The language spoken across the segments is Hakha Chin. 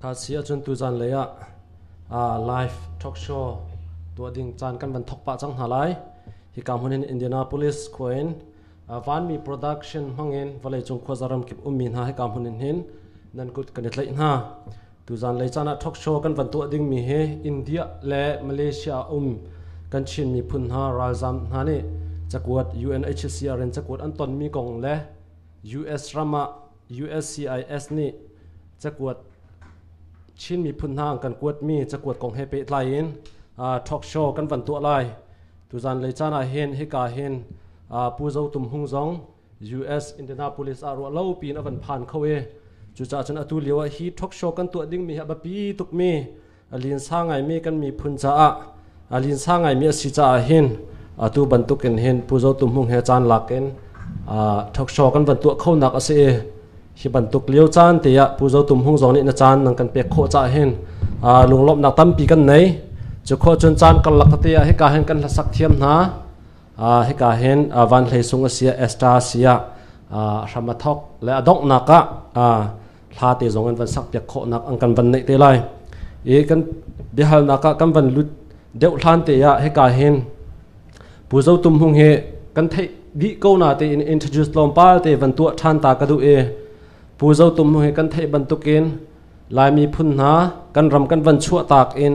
Thaci ahcun tuzan lei ah live talk show tuah ding caan kan van thok pah cang hna lai. Hi ka hmun in Indianapolis khua in vanmi production hmang in vawleicung khua zaram kip ummi hna hi ka hmun in hin nan kut kan i tlaih hna. Tuzan lei caan ah talk show kan van tuah dingmi hi India le Malaysia um kan Chin miphun hna ralzam hna nih cakuat UNHCR in cakuat an tonmi kong le US ram ah USCIS nih cakuat Chin miphun hna kan kuatmi cakuat kong he pehtlai in talk show kan van tuah lai tuzan lei caan ah hin hika hin Pu Zo Tum Hung zong US Indianapolis ah ruah lo piin a van phan kho i cucaah cun atu lio ah hi talk show kan tuah dingmi hi a biapi tukmi a linsa ngaimi kan miphun caah a linsa ngaimi a si caah hin atu bantuk in hin Pu Zo Tu Hmung he caan lak in talk show kan van tuah khonak a si i hi bantuk lio caan te ah Pu Zo Tu Hmung zong nih na caan nan kan pek khawh caah hin lunglawmhnak tampi kan nei cu khuacun caan karlak tete ah hika hin kan hlasak thiam hna hika hin van hlei sung a si ah Esther a si ah hram a thawk le a donghnak ah hla te zong in van sakpiak khawhnak an kan van neih te lai i kan biahalnak ah kan van lut deuh hlan te ah hika hin pu zo tum hung hi kan theih dih ko na te in introduce lom pa te van tuah than ta ka du e pu zo tum hung hi kan theih bantukin laimi phun hna kan ram kan van chuah tak in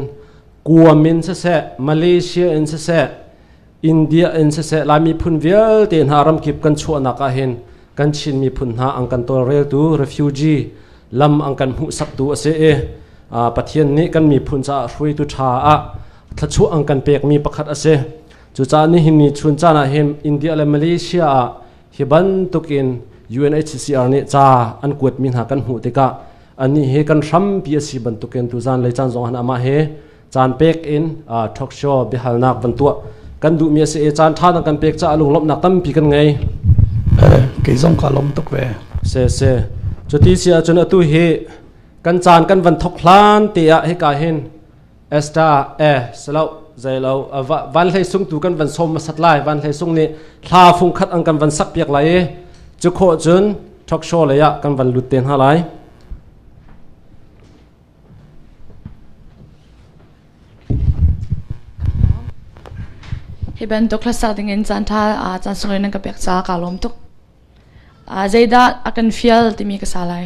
kuam in siseh malaysia in siseh india in siseh lai miphun vialte hna ramkip kan chuahnak ah hin kan chin miphun hna an kan tawlreltu refugee lam an kan hmuhsaktu a si i pathian nih kan miphun caah hruaitu ṭha ah thluachuah an kan pekmi pakhat a si cucaah nihin ni chun caan ah hin india le malaysia ah hi bantukin UNHCR nih ca an kuatmi hna kan hmuh tikah Anih hi kan hrampi a si bantukin tuzan le caan zongah amah he caan pek in talk show biahalnak van tuah kan duhmi a si e caan ṭha dang kan pek caah lunglawmhnak tampi kan ngei kei zong ka lawm tuk ve se se cuti si ahcun atu hi kan caan kan van thok hlan te ah hika hin Esther e salo zailo van hlei sung tu kan van som ma sat lai van hlei sung nih thla fung khat an kan van sak piak lai i cu kho cun talk show lei ah kan van lut te hna lai hi bantuk hlasa ding in chan tha chan sung rin ka pek cha ka lom tuk zeidah akan feel timi ka sa lai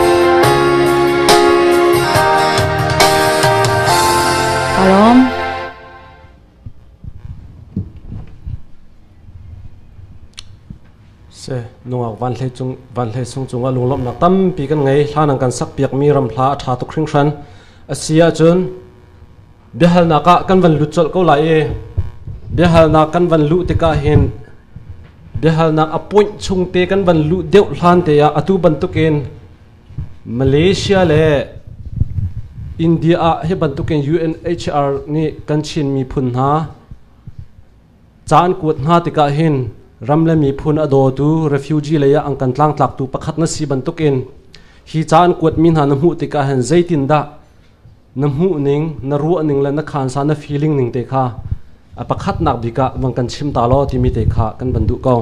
nungak vanhlei cung vanhlei sung cungah lunglawmhnak tampi kan ngei hla nang kan sak piakmi ramhla a tha tuk hringhran asi ahcun biahalnak ah kan van lut colh ko lai i biahalnak kan van luh tikah hin biahalnak appoint chung te kan van luh deuh hlan te ah atu bantukin Malaysia le India ah hi bantukin UNHCR nih kan Chin miphun hna caan kuat hna tikah hin ram le miphun a dawtu refugee lei ah an kan tlangtlaktu pakhat na si bantukin hi caan kuat mi hna na hmuh tikah hin zeitin dah na hmuhning, na ruahning le na khansa, na feeling ning te kha a pakhatnak bik ah van kan chim ta law timi te kha kan van duh ko.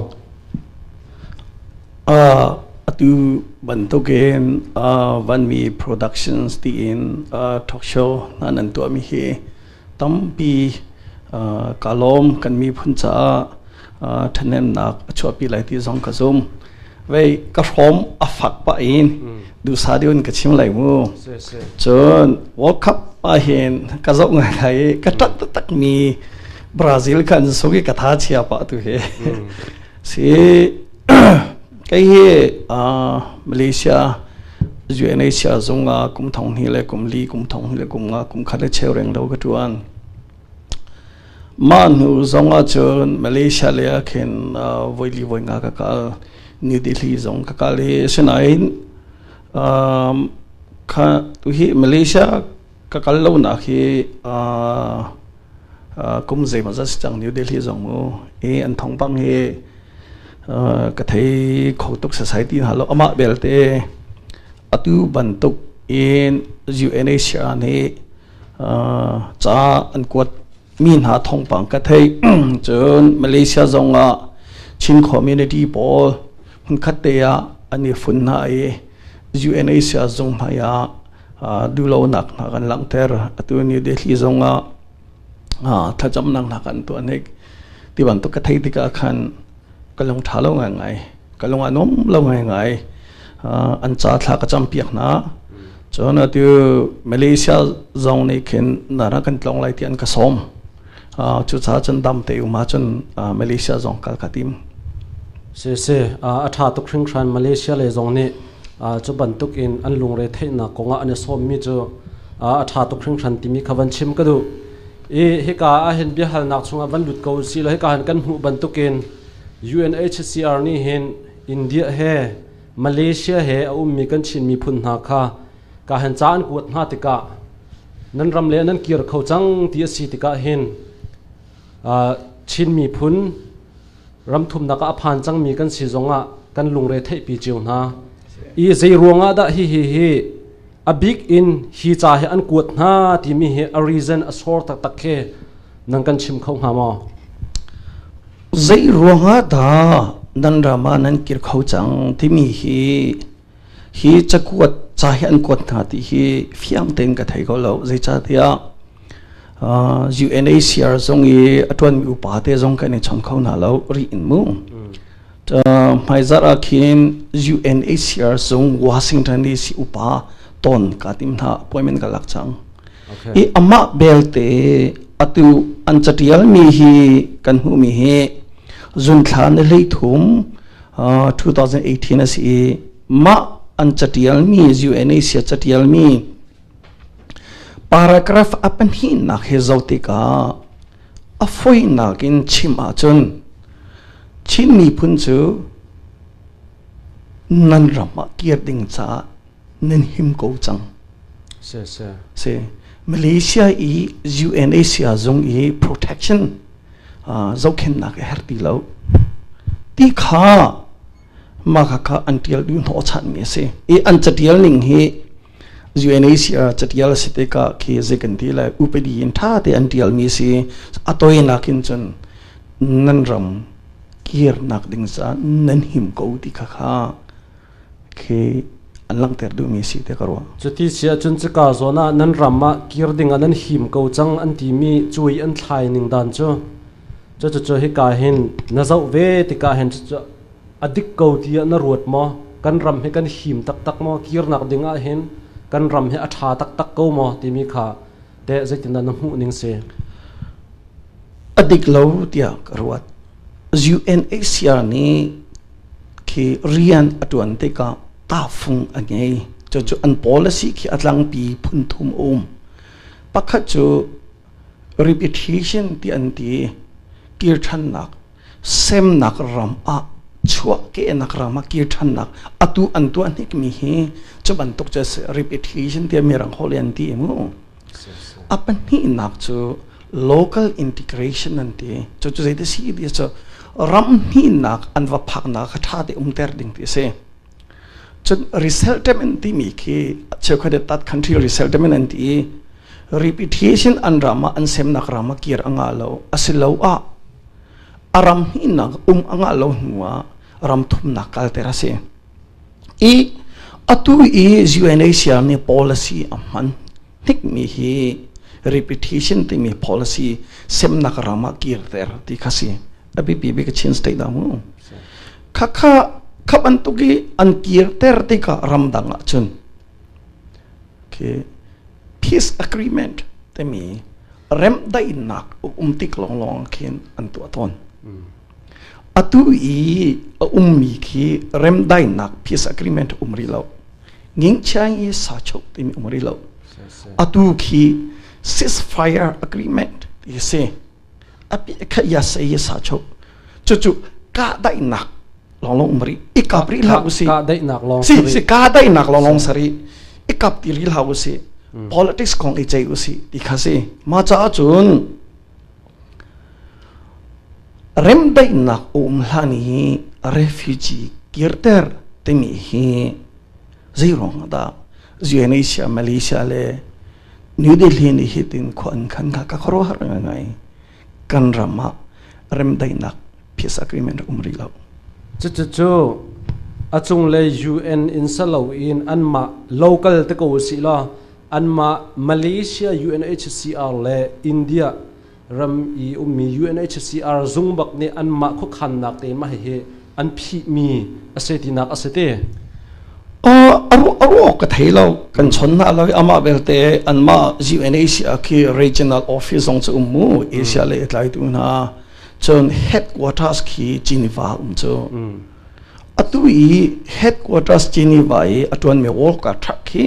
Uh, atu bantukin uh, vanmi productions tiin uh, talk show na nan tuah mi hi tampi uh, kalom kan mi phun caah ṭhanemnak a chuahpi lai ti zong ka zum. Vei ka hrom a fak pah in dusa diun ka chim lai mu. Cun World Cup ah hin ka zoh ngai lai i ka ṭat taktak mi Brazil khan sugi ka tha chia pah tu hi. Si kai hi Malaysia UNHCR zung ah kum thong hnih le kum li kum thong hnih le kum nga kum khat le cheu reng lo ka ṭuan. Mah hnu zong ahcun Malaysia lei ah khin voili voi nga ka kal. New Delhi zong ka kal i asinain um, kha tuhi Malaysia ka kal lonak hi uh, uh, kum zeimaw zat si cang New Delhi zong mu i an thong bang hi uh, ka thei kho tuk society hna lo amah belte atu bantuk in UNHCR nih ca an kuat mi hna thawngpang ka thei cun Malaysia zong ah Chin community pawl hmunkhat te ah an i fun hna i UNHCR zung hmai ah duhlonak hna kan langhter atu ni Delhi zong ah thlacamnak hna kan tuah nik ti bantuk ka thei tikah khan ka lung ṭha lo ngaingai. Ka lung a nuam lo ngaingai. Uh, an ca thla ka cam piak hna. Cun atu Malaysia zong nih khin nana kan tlong lai ti an ka sawm. Uh, cucaah cun dam te um ahcun uh, Malaysia zong kal ka tim. Si si, uh, a ṭha tuk hringhran Malaysia le zong nih uh, cu bantuk in an lungre theihnak kongah an i sawmmi cu uh, a ṭha tuk hringhran timi kha van chim ka duh. i hika ahhin biahalnak chungah van lut ko usih law hika hin kan hmuh bantukin UNHCR nih hin India he Malaysia he a ummi kan Chin miphun hna kha ka han ca an kuat hna tikah nan ram le nan kir kho cang ti a si tikah hin Chin miphun ramthumnak ah a phan cangmi kan si zongah kan lungre theihpi cio hna i zei ruangah dah hihi hi A bik in hi ca hi an kuat hna timi hi a reason a sawr taktak khi nan kan chim kho hnga maw? Zei ruangah dah nan rama nan kir kho cang timi hi hi cakuat ca hi an kuat hna ti hi fiang tein ka thei ko lo zeicahtiah uh, UNHCR zong i a ṭuanmi upa te zong kan i chon kho hna lo ri in mu hmaizarh ah khin UNHCR cung Washington DC upa ton ka tim hna appointment ka lak cang i amah belte atu an catial mi hi kan hmu mi hi zunthla ni hlei thum 2018 a si i mah an catial mi UNHCR catial mi paragraph a pahnih nak hi zotika a foihnak in chim ahcun Chin miphun cu nan ram ah kir ding caah nan him ko cang si si si Malaysia i UNHCR zung i protection uh, zohkhennak a her ti lo ti kha maka ka an tial du hnawchan mi a si i an catial ning hi UNHCR catial si te ka khi ze kan ti le upadi in tha te an tial mi si atoinak in chun nan ram kir nak ding sa nan him ko ti kha kha khi an lang ter du mi si te karwa cuti sia chun chi ka zona nan ram ma kir ding an him ko chang an ti mi chui an thlai ning dan chu Cucu hika hin na zoh ve tikah hin cucu a dik ko ti ah na ruat maw? Kan ram hi kan him taktak maw? Kirnak ding ah hin kan ram hi a ṭha taktak ko maw timi kha teh zeitindah na hmuh ning si? A dik lo tiah ka ruat. UNHCR nih khi rian a ṭuan tikah tahfung a ngei. Cucu an policy khi a tlangpi phunthum um. Pakhat cu rip i ṭhi chin ti an ti. Kir ṭhannak, semnak ram ah, chuahkehnak ram ah kir ṭhannak, atu an tuah hnikmi hi cu bantuk cu a si. Rip i ṭhi chin tiah mirang holh in an ti mu. A pahnihnak cu local integration an ti. Cucu zeitik si ti cu ram hnihnak an va phaknak kha ṭha te umter ding ti a si. Cun resettlement timi khi cheukhat nih tat country resettlement an ti i repatriation an ram ah an semnak ram ah kir a ngah lo asiloah a ram hnihnak um a ngah lo hnu ah ram thumnak kalter a si i atu i UNHCR nih policy a hman hnikmi hi repatriation timi policy semnak ram ah kirter ti kha si a biapi bik Chin state dah mu khakha khap an tuk i an kir ter tika ramdang ah cun okay peace agreement timi rem dainak um tik lawnglawng khin an tuah tawn atu i a ummi khi rem dainak peace agreement um rih lo nging chiang i sa chok timi um rih lo atu khi ceasefire agreement hi si api khaya sei sa cho chu chu ka dai nak long long mari ikap ri la usi ka dai nak long si si ka dai nak long long sari ikap ti ri la usi politics kong i chei usi ti kha si ma cha chun rem dai nak um hlani refugee kirter timi hi zeirong da Indonesia Malaysia le New Delhi nih hitin khua an khan kha ka khuaruahhar ngaingai. Kan ram ah remdaihnak peace agreement um rih lo. Cucucu a cunglei UN in salo in anmah local te ko si la anmah Malaysia UNHCR le India ram i ummi UNHCR zung bak nih anmah khuakhannak te mah hihi an phihmi a se tinak a si te aruah ka thei lo kan chon na lo amah belte anmah UNHCR khi regional office zong cu um mu Asia le tlai tu hna cun headquarters khi Geneva um cu atu i headquarters Geneva i a tuan mi world ka truck hi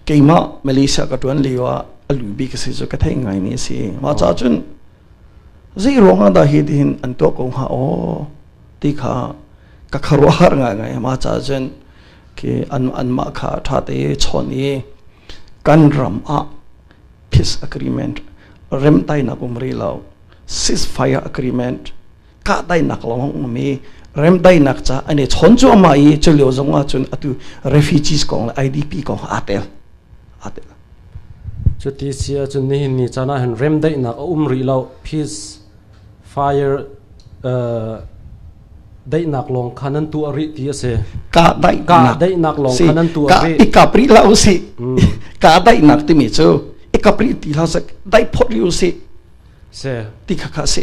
keimah Malaysia ka tuan lio ah a lu bi ka si cu ka thei ngai ni si ma cha cun zei ruangah dah hi tihin an to ko hnga o ti kha ka kharwa har ngai ngai ma cha cun ki an an mah kha tha te chon i kan ram ah peace agreement rem tai na um ri lo ceasefire agreement kahdaihnak lawng a um i remdaihnak ca an i chawn cuahmah i cu lio zong ah cun atu refugees kong le IDP kong aa tel aa tel cuti si ahcun nihin ni caan ah hin remdaihnak a um rih lo peace fire uh, daihnak lawng kha nan tu a rih ti a si ka daihnak daihnak lawng kha nan tu a rih i ka pri la u si ka daihnak timi cu i ka pri ti la sak dai phot li u si si ti kha kha si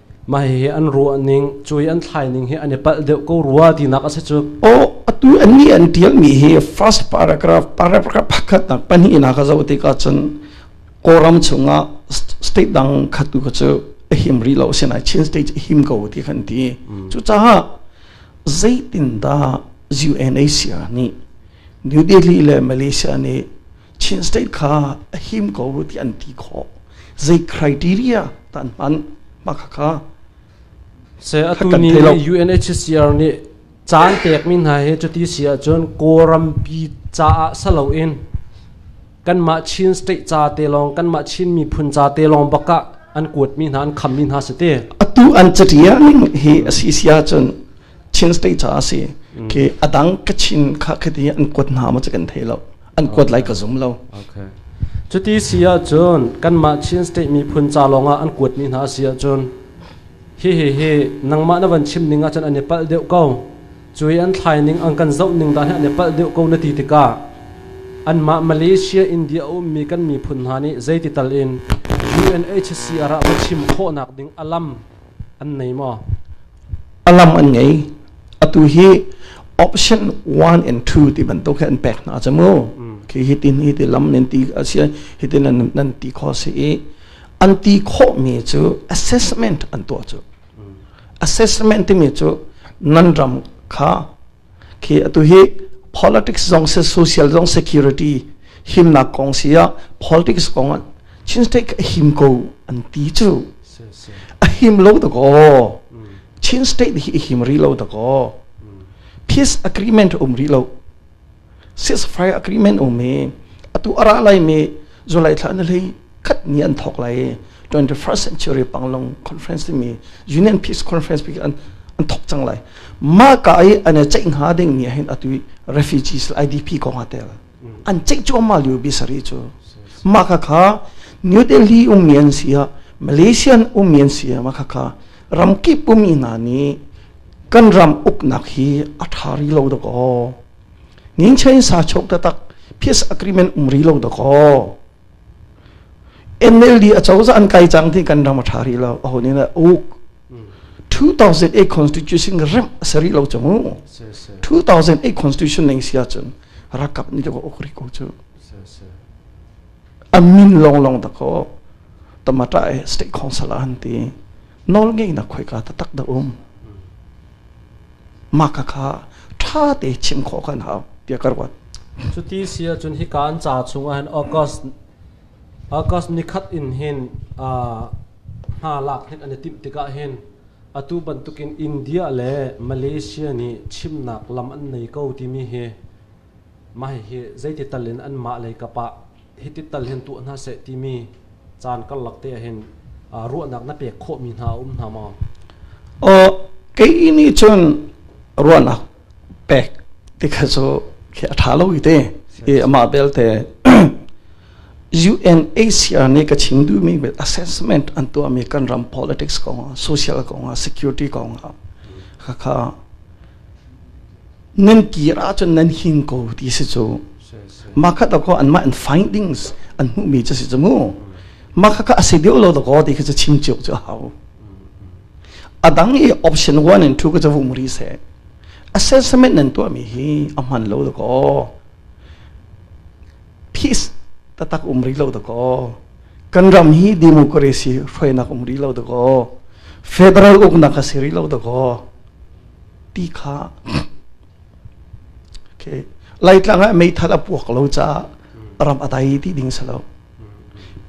Mah hihi an ruah ning, cui an thlai ning hi an i palh deuh ko rua tinak a si cu. Aw atu annih an tialmi hi first paragraph paragraph pakhatnak pahnihnak a zoh tikah cun Kawlram chungah state dang khat tu kha cu a him rih lo sinai Chin state a him ko ti kan ti cucaah zeitindah UNHCR nih New Delhi le Malaysia nih Chin State kha a him ko ti an ti khawh. Zei criteria tan hman ma kha kha se atu ni UNHCR nih caan tek mi hna hi cuti si ahcun kawlram pi ca ah salo in kanmah Chin state ca te lawng kanmah Chin miphun ca te lawng bak ah an kuat mi hna an kham mi hna si te atu an catiang hi a si si ahcun Chin state caah a si ki a dang kachin kha khati an kuat hna ma kan thei lo an kuat lai ka zum lo okay cuti si ahcun kanmah Chin state miphun ca lawngah an kuat mi hna si ahcun hi hi hi nangmah na van chim ning ahcun an i palh deuh ko cu i an thlai ning an kan zoh ning da hi an i palh deuh ko na ti tikah anmah Malaysia India a ummi kan miphun hna nih zeiti tal in UNHCR ah va chim khawhnak ding alam an nei maw a lam an ngei atu hi option one and two ti bantuk he an pek hna ca mu khi hitin hi ti lam nan ti a si hi ti nan nan ti kho si i an ti khawh mi cu assessment an tuah cu assessment timi cu nan ram kha khi atu hi politics zong se social zong security himnak kong si ah politics kong ah Chin state a him ko an ti chu a him lo ta ko Chin state hi a him rih lo ta ko peace agreement um rih lo ceasefire agreement um i atu a ra laimi July thla na lei khat ni an thok lai 21st century panglong conference timi union peace conference pi an an thok chang lai ma ka ai an chei nga ding ni hin atu refugees IDP ko nga tel an chei chu ma liu bi sari chu ma ka kha new delhi umian sia malaysian umian sia ma kha kha ram ki pumi na ni kan ram up nak hi athari lo do ko Ninchei sa chok tatak peace agreement um ri lo da ko NLD a cozah an kai cang ti kan ram a tha ri lo a honi na u 2008 constitution rem sari lo chungu 2008 constitution ning sia chun rakap ni lo ok ri ko chu amin long long da ko tamata e state council an ti nol ngai na khoi ka ta tak da um mah kha kha ṭha te chim khawh kan hau tiah ka ruat. Cuti si ahcun hika an ca chungah hin August August ni khat in hin hna lak hin an i timh tikah hin atu bantukin India le Malaysia nih chimnak lam an nei ko timi hi mah hi zeiti tal in anmah lei kap ah hitik tal hin tuah hna seh timi caan karlak te ahhin ruahnak na pek khawhmi hna a um hna maw? Oh, kei nih cun ruahnak pek tika cu khi a ṭha lo ite i amah belte UNHCR nih ka chim duhmi bel assessment an tuahmi kan ram politics kong ah social kong ah security kong ah khakha nan kir ahcun nan hin ko ti si cu makhat dakaw anmah an findings an hmuhmi cu si cu mu makha ka asi deuh lo dakaw ti khi cu chim cio cu hau adang i option 1 and 2 ka cha vum ri se assessment nan tuahmi hi a hman lo dakaw peace tatak um rih lo da kaw kan ram hi democracy hruainak um rih lo da kaw federal uknak a si rih lo da kaw ti kha okay laitlang ah meithal a puak lo caah ram a dai ti ding sa lo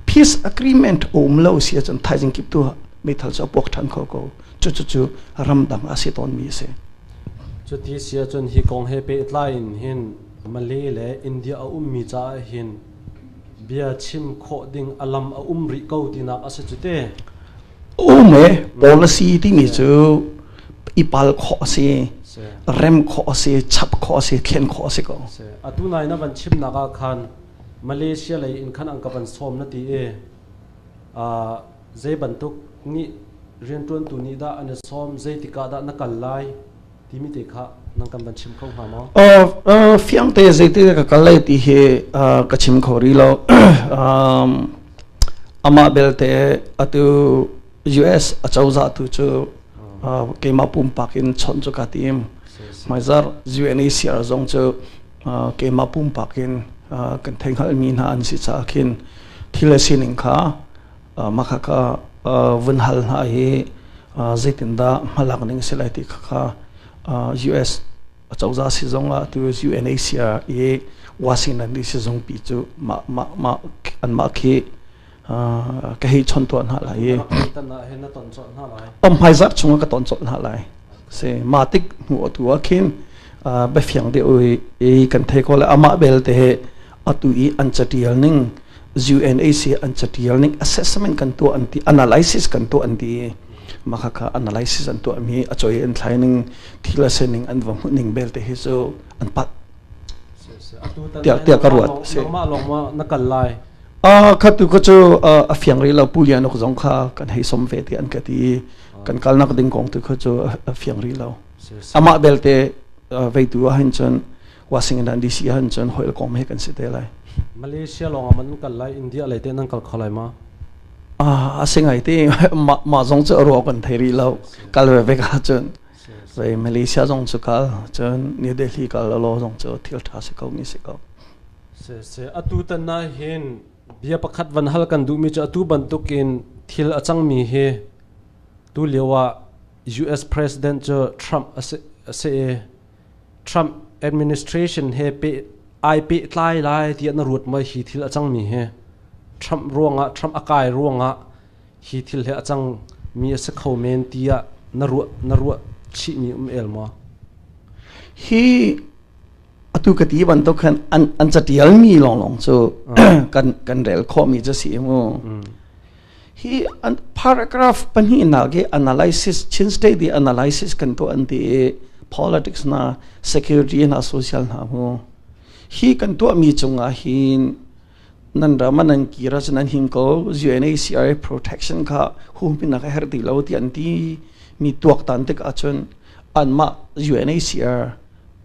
peace agreement um lo si cun thaizing kip tu meithal cu a puak than kho ko cu cu cu ram dang a si tawn mi a si cuti sia cun hi kong he pe tlai in hin Male le India a ummi caah hin bia chim khawh ding a lam a um rih ko tinak a si cu te. Um e policy timi cu i pal khawh a si rem khawh a si chap khawh a si thlen khawh a si ko atu nai na van chimnak ah khan Malaysia lei in khan an ka van sawm na ti e zei bantuk nih riantuantu nih dah an i sawm zeitik ah dah na kal lai timi te kha nang kan van chim kho hnga maw? fiang te zeiti ka kal lai ti hi ka chim kho ri lo amah belte atu US acozah tu cu keimah pumpak in chawnh cu ka tim maizar UNHCR zong cu keimah pumpak in kan theinghal mi hna an si caah khin thil a sining kha Mah khakha vun hal hna hi zeitindah hmalak ning a si lai ti khakha US acozah si zong ah atu UNHCR i Washington DC zungpi cu anmah khi ka hei chon tuah hna lai i om hmaizarh chung ah ka ton colh hna lai si mah tik hnu atu ah khin biafiang deuh i kan thei ko le amah belte he atu i an catial ning UNAC an catial ning assessment kan tuah an ti analysis kan tuah an ti makhaka analysis an tuah mi a choi an thlai ning thila se ning an va ning bel te hi chu an pat tia tia ka ruat se ma long ma na kal lai a kha tu ka chu a fiang ri lo pu lian ok zong kha kan hei som ve te an ka ti kan kal nak ding kong tu kha chu a fiang ri lo ama belte veitu a hin chun Washington DC ahcun cun hoil kawm he kan si te lai. Malaysia lawngah man kal lai India lei te nan kal kho lai ma? Ah, asingai ti ma ma zong cu ruo kan thei rih lo kal ve ve ka cun. Vậy Malaysia zong cu kal cun New Delhi kal lo zong cu thil tha si ko ni si ko. Se se atu tan na hin bia pakhat van hal kan duh mi cu atu bantukin thil a cang mi hi tu liawa US president cu Trump ase ase Trump administration he ai pehtlai lai tiah na ruat maw? Hi thil a cangmi hi Trump ruangah Trump a kai ruangah hi thil hi a cang mi a si kho men tiah na ruah na ruah chihmi um el maw? Hi atu ka ti bantuk khan an an catial mi lawnglawng cu kan kan rel khawh mi cu si mu. hi an paragraph pahnihnak i analysis Chin State i analysis kan tuah an ti i politics na security na social na hu hi kan tuah mi cungah hin nan ram nan kira chu nan him ko UNHCR protection kha hum pinak a her ti lo ti an ti mi tuak tan tik achun an ma UNHCR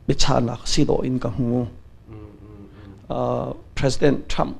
bichanak si do in ka hu uh, President Trump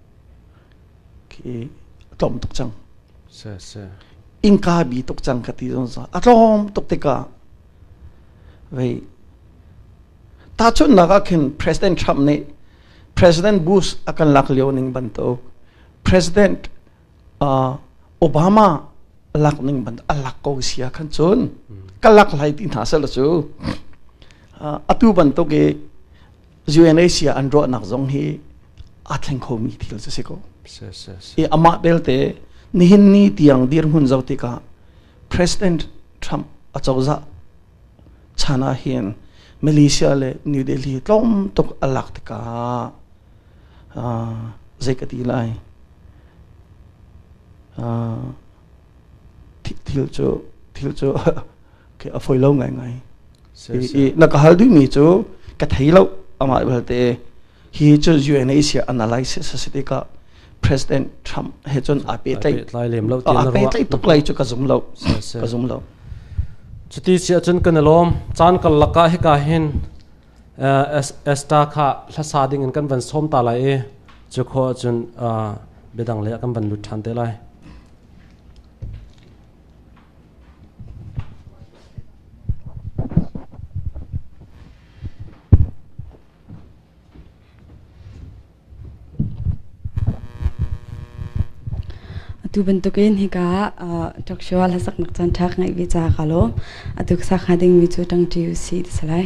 khi a tlawm tuk cang sir, sir. innka bi tuk cang ka ti zon sa a tlawm tuk tikah vei tahchunnak ah khin president trump nih president bush a kan lak lio ning bantuk president uh, obama lak ning bantuk a lak ko sia khan chun ka lak lai ti hna sel cu uh, atu bantuk i UNHCR an ruahnak zong hi aa thleng khomi thil cu si ko. I amah belte nihin ni tiang dirhmun zoh tikah President Trump a cozah chan ah hin Malaysia le New Delhi tlawm tuk a lak tikah zei ka ti lai thil cu thil cu khi a foi lo ngaingai i na ka hal duhmi cu ka thei lo amah belte hi cu UNHCR analysis a si tikah President Trump he cun aa petlai lem lo aa petlai tuk lai cu ka zum lo ka zum lo cuti si ahcun kan lawm caan kal lakah hika hin esta kha hlasa ding in kan van som ta lai i cu kho ahcun biadang le kan van lut ṭhan te lai atu bantukin hika talk show la sak nak chan thak ngai vi cha ka lo atu sa kha ding mi chu tang tu si ti salai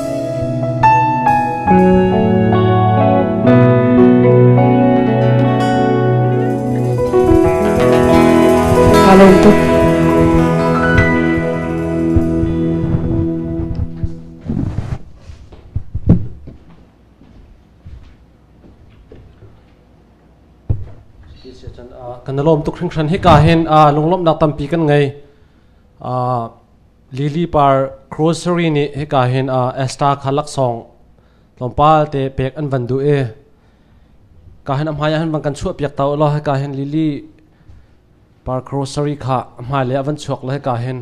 kan lawm tuk hringhran hi ka hin a lunglawmhnak tampi kan ngei Lili par grocery nih hika hin a Esther kha laksawng tlawmpal te pek an van duh i ka hin a hmai ah hin van kan chuahpiak ta law hika hin lili par grocery kha a hmai le a van chuak le hika hin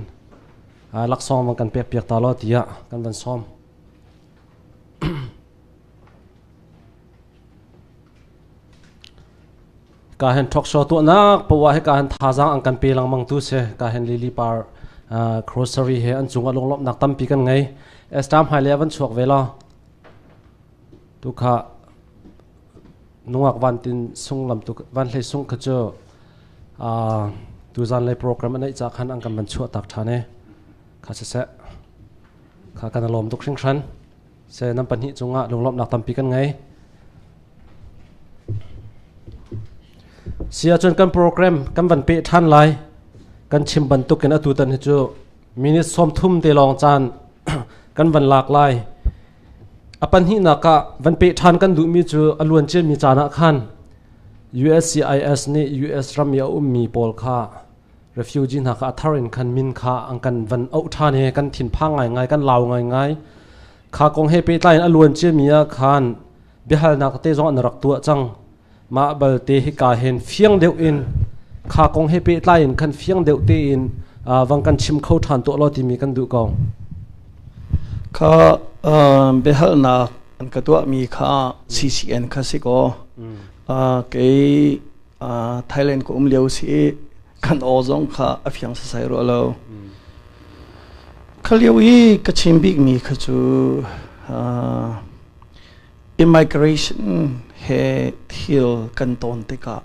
laksawng van kan pekpiak ta law tiah kan van sawm. Ka hen thawkshaw tuahnak powa he ka hen thazaang an kan pe lengmang tu si ka hen lili par uh, grocery he an cung a lunglawmhnak tampi kan ngei estam hmai le van chuak ve la tu kha nungak van tin sung lam tu van hlei sung kha chu uh, tu zan lei program anei cha khan an kan ban chuah tak thane kha se se kha kan lom tuk hring hran Seh nan pahnih cungah lunglawmhnak tampi kan ngei. Si ahcun kan program kan van pe ṭhan lai. Kan chim bantukin atu tan hi cu minute sawmthum te lawng caan kan van lak lai. A pahnihnak ah van pe ṭhan kan duhmi cu a luan ciami caan ah khan USCIS nih US ram i a ummi pawl kha refugee hna kha a thar in khan min kha an kan van auh ṭhan i kan thinphang ngaingai kan lau ngaingai kha kong he pehtlai in a luan ciami ah khan biahalnak te zong an rak tuah cang mah balte hika hen fiang deuh in kha kong he pehtlai in khan fiang deuh tein vang kan chim kho ṭhan tuah law timi kan duh ko kha biahalnak an ka tuahmi kha ccn kha si kaw kei Thailand ka um lio si i kan aw zong kha a fiang sasai rua lo. Kha lio i ka chim bikmi kha cu immigration he thil kan tawn tikah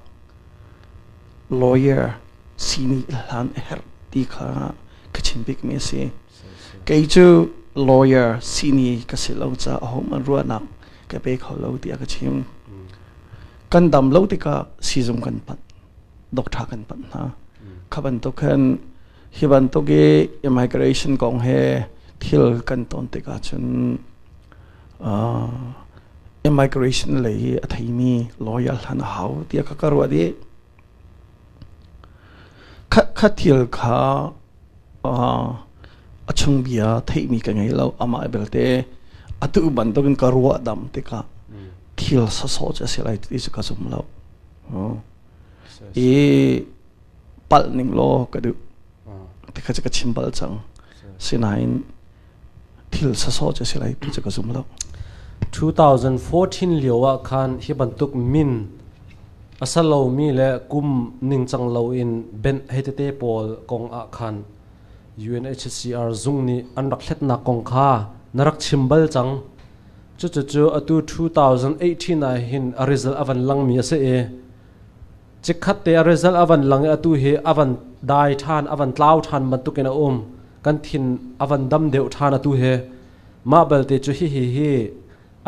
lawyer si nih hlan a herh ti kha ka chim bikmi a si. kei cu lawyer sihni ka si lo caah home an ruahnak ka pe kho lo tiah ka chim kan dam lo tikah sizung kan panh doctor kan panh hna kha bantuk khan hi bantuk i immigration kong he thil kan ton tikah cun immigration lei i a theimi lawyer hlan a hau tiah ka ka ruah dih Khatkhat thil kha a chungbia theihmi ka ngei lo. Amah belte atu bantukin ka ruahdamh tikah thil sawsawh cu a si lai ti cu ka zum lo. I palh ning law ka duh. Ti kha cu ka chim bal cang. Sinain 2014 lio ah khan hi bantuk min a sa lomi le kum ningcang loin benh hei tete pawl kong ah khan UNHCR zung nih an rak hletnak kong kha na rak chim bal cang cucu cu atu 2018 ah hin a result a van langmi a si i Chikkhat te a result a van lang i atu hi a van dai ṭhan, a van tlau ṭhan bantukin a um. Kan thin a van dam deuh ṭhan atu hi. Mah belte cu hihi hi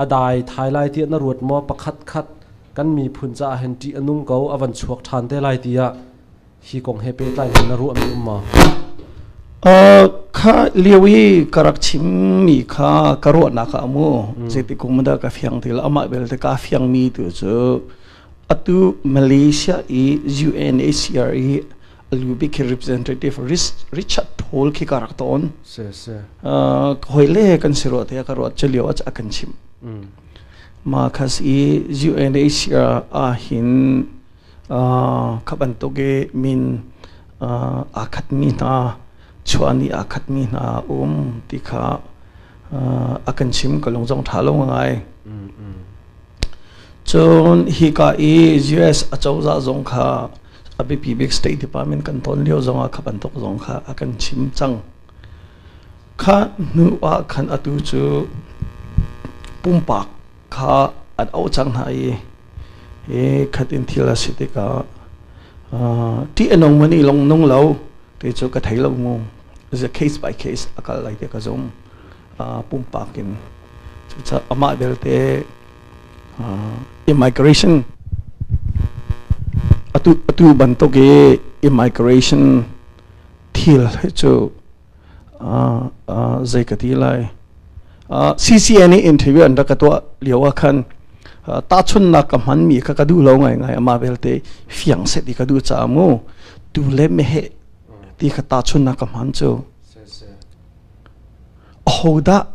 a dai thai lai tiah na ruat maw? Pakhat khat kan miphun caah hin ṭih a nung ko, a van chuak ṭhan te lai tiah hi kong he pehtlai hin na ruahmi um maw? Uh, kha lio i ka rak chimmi kha ka ruahnak ah mu. Zeitik kum dah ka fiang ti lo. Amah belte kaa fiangmi tu cu Atu Malaysia i UNHCR i a lu bik khi representative Richard Paul khi ka rak tawn. Se se. Uh, hoile kan si ruah te ka ruat chalio a kan chim. Mm. Ma khas i UNHCR a hin uh, khabantuk i min uh, a khat mi hna chuani a khat mi hna um ti kha uh, a kan chim ka lung zong tha lo ngai. Mm, mm. Cun hika i US acozah zong kha a biapi bik State Department kan ton lio zongah kha bantuk zong kha a kan chim cang. Kha hnu ah khan atu cu pumpak kha an auh cang hna i i khatin thil a si tikah uh, ṭih a nung mani lawng nung lo ti cu ka thei lo ngu. Is a case by case a kal lai ti ka zum. pumpak in cucaah amah belte immigration atu atu bantuk i immigration thil hi cu zei ka ti lai CCA nih interview an rak ka tuah lio ah khan tahchunnak ka hmanmi kha ka duh lo ngaingai amah belte fiang se ti ka duh caah mu tu le meheh ti ka tahchunnak ka hman cu Ahodah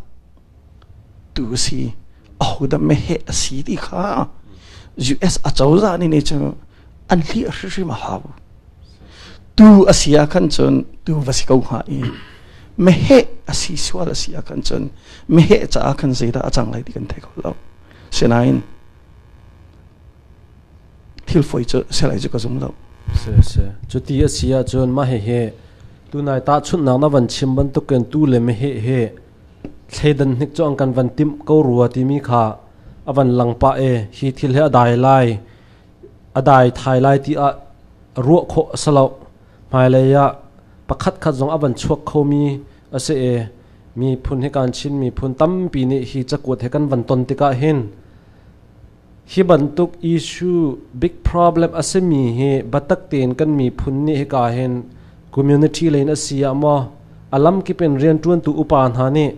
tu a si, ahodah meheh a si ti kha US acozah nih ni cu an hliah hrimhrim a hau. Tu a si ah khan cun tu va si ko hnga i meheh a si sual a si ah khan cun meheh caah khan zeidah a cang lai ti kan thei kho lo. Sinain thil foi cu selai cu ka zum lo si si cu ti a si ahcun mah hi hi tunai ta chunnak na van chim bantukin tu le me he he thleidan hnik chu an kan van tim ko rua timi kha avan langpa e hi thil he adai lai adai thai lai ti a ruah kho asalo hmailei ah pakhat khat zong avan chuak khomi ase e mi phun hi kan chin mi phun tampi nih hi cakuat he kan van ton tikah hin Hi bantuk issue big problem a simi hi biatak tein kan miphun nih hika hin community lei in a si ah maw a lamkip in rianṭuantu upa hna nih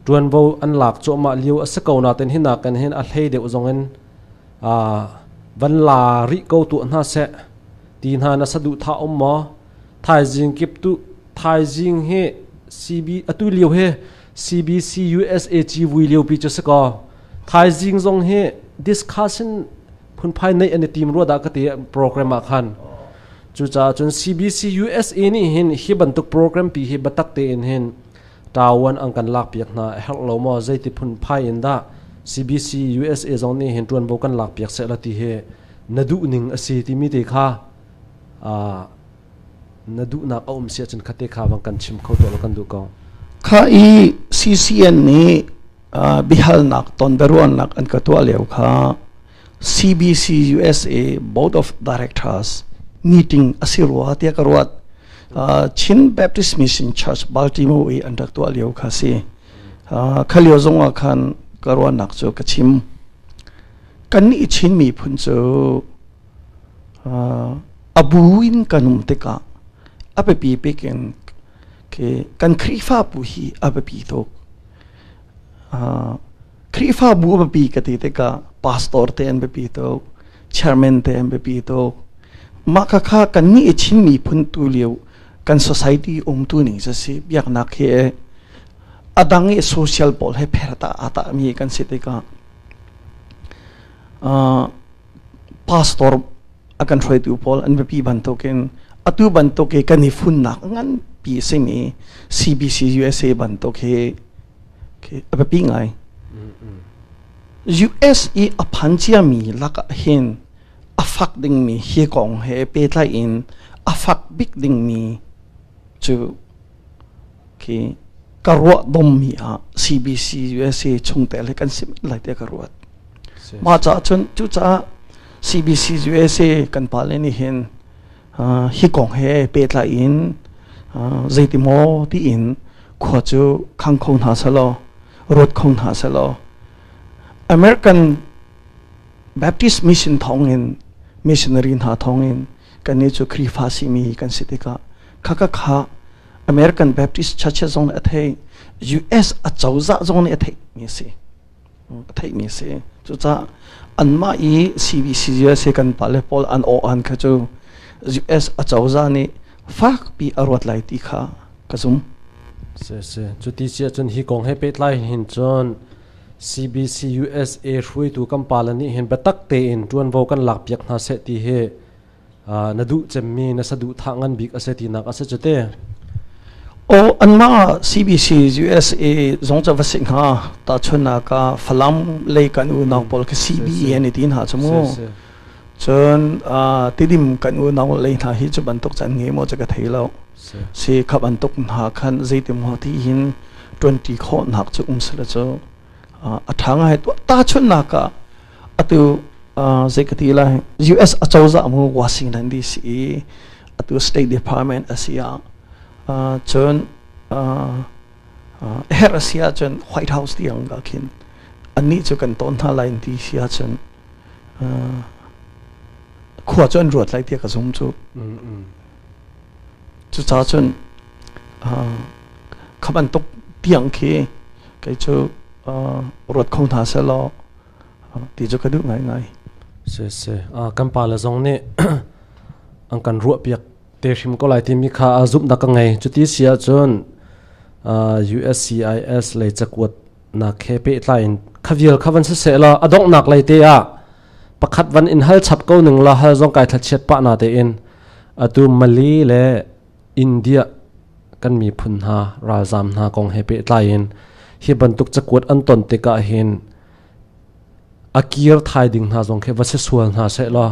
ṭuanvo an lak cuahmah lio a si ko nain hi nakin hin a hlei deuh zong in van la rih ko tuah hna seh ti hna na saduhthah um maw? Thaizing kip tu thaizing hi CB atu lio hi CBC-USA civui liopi cu si kaw thaizing zong hi discussion phunphai nei an i tim rua dah ka ti program ah khan cucaah cun CBC-USA nih hin hi bantuk program pi hi batak tein hin tawan ang kan lak piak hna herh lo mo zeiti phun phai in da CBC USA zong nih hin tuan bo kan lak piak se la ti hi na duh ning asi timi te kha a Na duhnak a um si ahcun khate kha vang kan chim kho tuah law kan duh ko. Kha i CCN nih bihalnak tonbiaruahnak an ka tuah lio kha CBC USA Board of Directors meeting asi rua tiah ka ruat Chin Baptist Mission Church Baltimore i an rak tuah lio kha si kha lio zong ah khan ka ruahnak cu ka chim kan i chin miphun cu A bu in kan um tikah a biapi bik in kan Khrihfabu hi a biapi tuk. Khrihfabu a biapi ka ti tikah pastor te an biapi tuk, chairman te an biapi tuk. Mah khakha kan nih i Chin miphun tu lio kan society umtu ning si si biaknak hi a dang i social pawl he pherta aa tahmi kan si tikah pastor a kan hruaitu pawl an biapi bantukin atu bantuk i kan i funnak nganpi a simi CBC USA bantuk hi a biapi ngai. US i a phan ciami lakah hin a fak dingmi hi kong he pehtlai in a fak bik dingmi cu khi ka ruah dommi ah CBC USA chungte le kan si lai tiah ka ruat mah caah cun cucaah CBC USA kan pale nih hin hi kong he pehtlai in zeiti maw tiin khua cu khang kho hna selaw ruat kho hna selaw American Baptist mission thawngin missionary hna thawngin kannih cu Khrihfa simi kan si tikah khaka kha American Baptist Churches zong nih a theih US acozah zong nih a theihmi a si a theihmi a si cucaah anmah i CBC USA kan pale pawl an aw an kha cu US acozah nih fakpi a ruat lai ti kha ka zum si si cu ti si ahcun hi kong he pehtlai hin cun CBCUSA hruaitu kan pale nih hin biatak tein ṭuanvo kan lakpiak hna seh ti hi na duh cemmi na saduhthah ngan bik a si tinak a si cu te. Aw anmah ah CBC USA zong ca va si hna ta chunnak ah Falam lei kan unau pawl kha CBE an i ti hna cu mu. cun tidim kan unau lei hna hi cu bantuk can nge maw ca ka thei lo si khap bantuk hna khan zeitim ho ti hin tuanti kho nak cu um sala cu a tha ngai tu ta chun na ka atu zei ka ti lai US achoza mu Washington DC atu State Department asia chun her asia chun White House tiang ga khin anni chu kan ton tha lain ti sia chun khua cu an ruat lai tiah ka zum cu cucaah cun kha bantuk tiang khi kei cu ruat kho hna seh law ti cu ka duh ngaingai si si kan pa le zong nih an kan ruah piak te hrim ko lai timi kha zumhnak ka ngei cuti si ahcun uscis le cakuat nak he pehtlai in kha vial kha van siseh law a donghnak lei te ah pakhat van in hal chap ko ning la hal zong kai thlachiat pa na te in atu Mali le India kan miphun hna ralzam hna kong he pehtlai in hi bantuk cakuat an ton te ka hin akir thai ding hna zong khe va se sual hna se law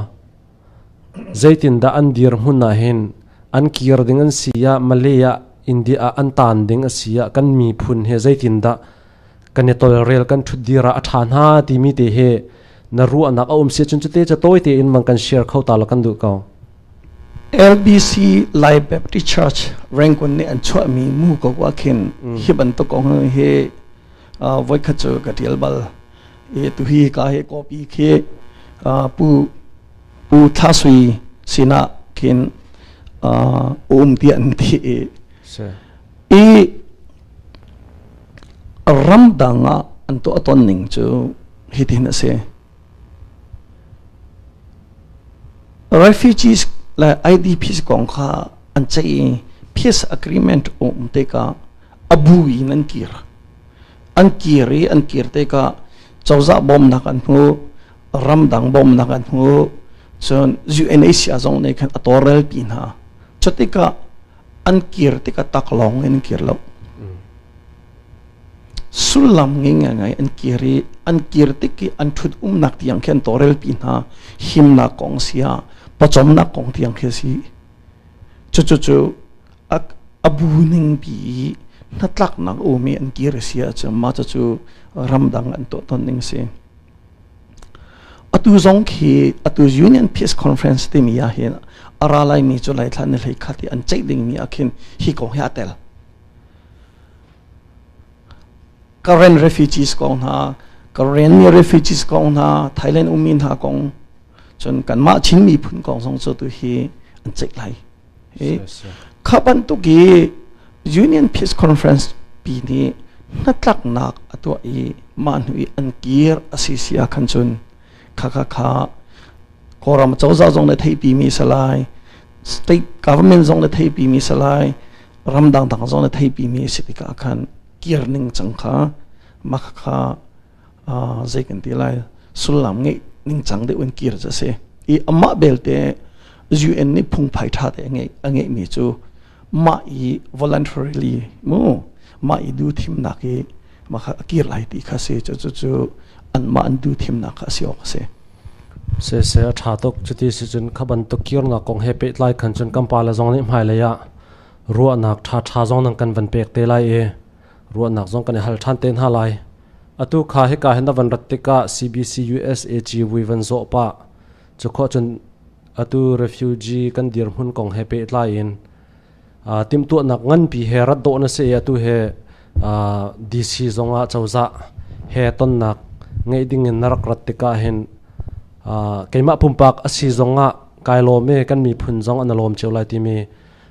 Zeitindah an dirhmun ah hin an kir ding an si ah Malay ah India ah an tan ding a si ah kan miphun he zeitindah kan i tolrel kan ṭhutdir ah a ṭha hna timi te hi na ruahnak a um si cun cute ca tawi tein man kan share kho ta la kan duh ko. LBC Lai Baptist Church Rangon nih an chuahmi mu ko ah khin hi bantuk kong hi voikhat cu ka tial bal tuhi ka he copy khi pu pu Tha Sui sinah khin um ti an ti i ramdang ah an to aton ning cu hitin a si refugees le idps kong kha an ceih peace agreement um te ka abu in an kir an kir i an kir tikah cozah bawmnak an hmu ramdang bawmnak an hmu cun UNHCR zong nih khan a tawrel pi hna cu tikah an kir tikah tak lawng in an kir lo sullam nging ngai an kir i an kir tik i an thut umnak tiang khin tawrel pi hna himnak kong si ah pawcawmnak kong tiang khi si cucu cu a bu ningpi i hnatlaknak um i an kir a si ahcun mah cu ramdang an tuahton ning a si. Atu zong khi atu Union Peace Conference timi ah hin a ra laimi cu laithlan ni hlei khat i an ceih dingmi ah khin hi ko hi a tel. Karen refugees kong hna, Karen mi refugees kong hna, Thailand ummi hna kong, cun kanmah Chin miphun kong zong cu tu hi an ceih lai. Kha bantuk i Union Peace Conference pi nih hnatlaknak a tuah i mah hnu i an kir a si si ah khan cun kha kha kha Kawlram cozah zong le theipi mi si lai state government zong le theipi mi si lai ram dangdang zong le theipi mi si tikah khan kir ning cang kha mah kha zei kan ti lai sullam ngeih ningcang deuh in kir cu a si i amah belte UN nih phungphai ṭha te a ngeihmi cu mah i voluntarily mu mah i du thimnak i mah kha a kir lai ti kha si cucu anmah an du thimnak kha a si awk a si se se a ṭha tuk cuti si cun kha bantuk kirnak kong he pehtlai khan cun kan pale zong nih hmailei ah ruahnak ṭhaṭha zong nan kan van pek te lai i ruahnak zong kan i hal ṭhan te hna lai. Atu kha hika hin na van rat tikah CBC USA Ciwi van zawh pah. Cu khawh cun atu refugee kan dirhmun kong he pehtlai in uh, timtuahnak nganpi he rat dawh na si i atu he uh, DC zong ah cozah he tonnak ngeih ding in na rak rat tikah hin uh, keimah pumpak asi zong ah kai lawm e kan miphun zong an lawm cio lai timi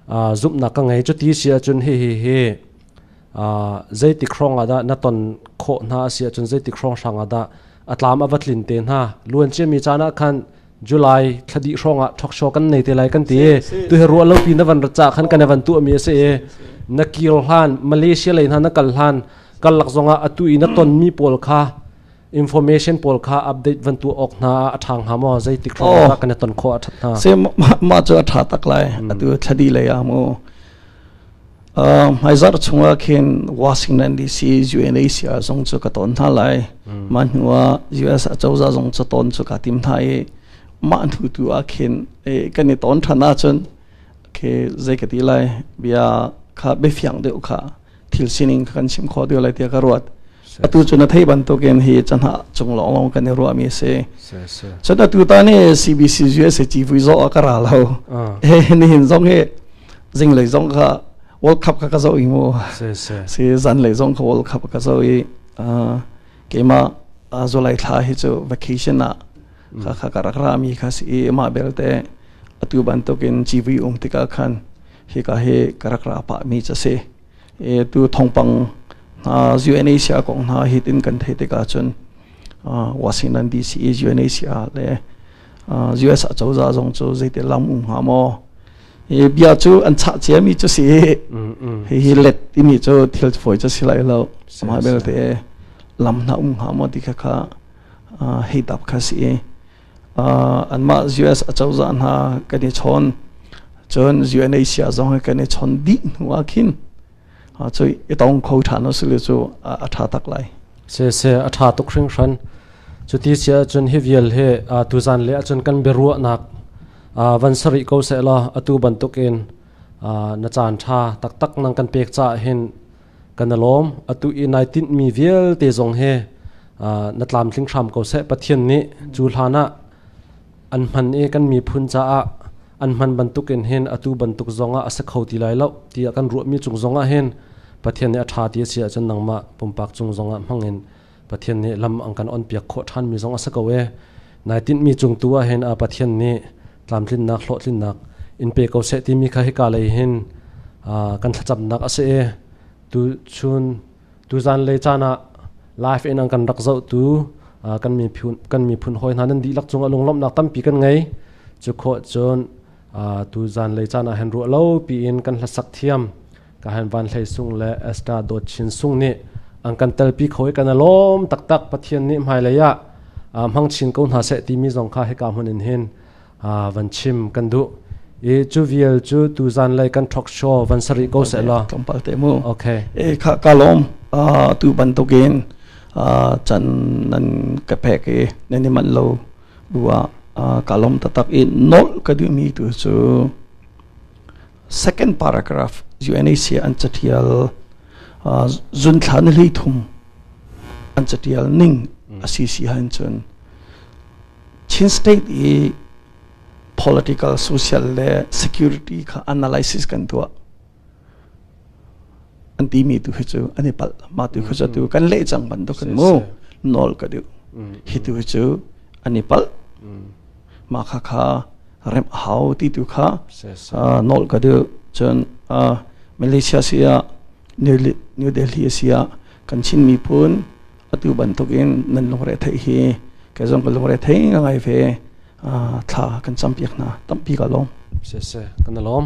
uh, zumhnak ka ngei cu ti si ahcun hi hi hi Zeitik hrawng ah dah na ton khawh hna a si ahcun zeitik hrawng hrang ah dah a tlam a va tlin te hna. Luanciami caan ah khan July thla dih hrawng ah ṭhokshawh kan nei te lai kan ti i tu hi ruah lopi na van ra cah khan kan i van tuahmi a si i na kir hlan Malaysia lei hna na kal hlan karlak zong ah atu i na tonmi pawl kha information pawl kha update van tuah awk hna a ṭhang hnga maw zeitik hrawng dah kan i ton khawh a ṭhat hna. Se mah cu a ṭha tak lai atu thadi lei ah maw Hmaizarh chungah khin Washington DC UNAC ah zong cu ka ton hna lai mah hnu ah US acozah zong cu ton cu ka tim hna i mah hnu tu ah khin kan i ton ṭhan ahcun khi zei ka ti lai bia kha biafiang deuh kha thil sining kha kan chim khawh deuh lai tiah ka ruat atu cu na thei bantukin hi cahna cung lawnglawng kan i ruahmi a si cun atu ta nih CBC USA civui zo a ka ra lo he nihin zong hi zinglei zong ka world cup ka ka zo i mu si zanlei zong ka world cup ka zo i keima zulai thla hi cu vacation ah ka ka ka rak ra mi kha si ma belte atu bantukin civui um tikah khan hi ka hi ka rak ra pa mi cha si e tu thongpang na UNHCR kong na hit in kan thei tikah cun Washington DC UNHCR le US a choza zong cu zeite lam um hnga maw e bia cu an chah cia mi cu si hi hi let timi cu thil phoi cu si lai lo ma belte lam na um hnga maw ti kha kha hei tap kha si anmah US acozah hna kan i chawn cun UNHCR zong hi kan i chawn dih hnu ah khin cu i tong kho ṭhan u sile cu a ṭha tak lai se se a ṭha tuk hringhran cu ti si ahcun hi vial hi tuzan le ahcun kan biaruahnak van sarih ko seh law atu bantukin na caan ṭha taktak nang kan pek caah hin kan alawm atu i nai tinhmi vialte zong he na tlamtling hram ko seh pathian nih cu hlan ah an hman i kan miphun caah an hman bantukin hin atu bantuk zongah a si kho ti lai lo tiah kan ruahmi cung zongah hin pathian nih a ṭha ti a si ahcun nangmah pumpak cung zongah hmangin Pathian nih lam an kan onpiak khawh ṭhanmi zong a si ko ee. Nai tinhmi cung tu ah hin a Pathian nih tlamtlinnak hlawhtlinnak in pe ko seh timi kha hika lei hin kan thlacamnak a si i tuchun tuzan lei caan ah live in an kan rak zohtu kan miphun hawi hna nan dihlak cung ah lunglawmhnak tampi kan ngei cu khawh cun tuzan lei caan ah hin ruah lo piin kan hlasak thiam Kahan Van Hlei Sung le Esther Dawt Chin Sung nih an kan telpi kho i kan a lawm taktak Pathian nih hmailei ah hmang chin ko hna seh timi zong kha hika hmun in hin van chim kan duh i cu vial cu tu zan lei kan talk show van sarih ko seh law tlawmpal te mu okay e kha ka lawm tu bantukin chan nan ka phek i nan i lo bua ka lawm tatak i nol ka duhmi tu cu Second paragraph UNHCR an catial zunthla ni hleithum an catial ning a si si han cun Chin state i political social le security kha analysis kan tuah an ti mi tu hi cu an i palh ma tu khi cu tu kan leh cang bantuk kan mu nawl ka duh hi tu hi cu an i palh mah kha kha remh a hau ti tu kha nawl ka duh cun Malaysia si ah New Delhi si ah kan Chin miphun atu bantukin nan lungre thei hi ke zong ka lungre thei nga ngai ve thla kan champiak na tampi ka lom se se kan lom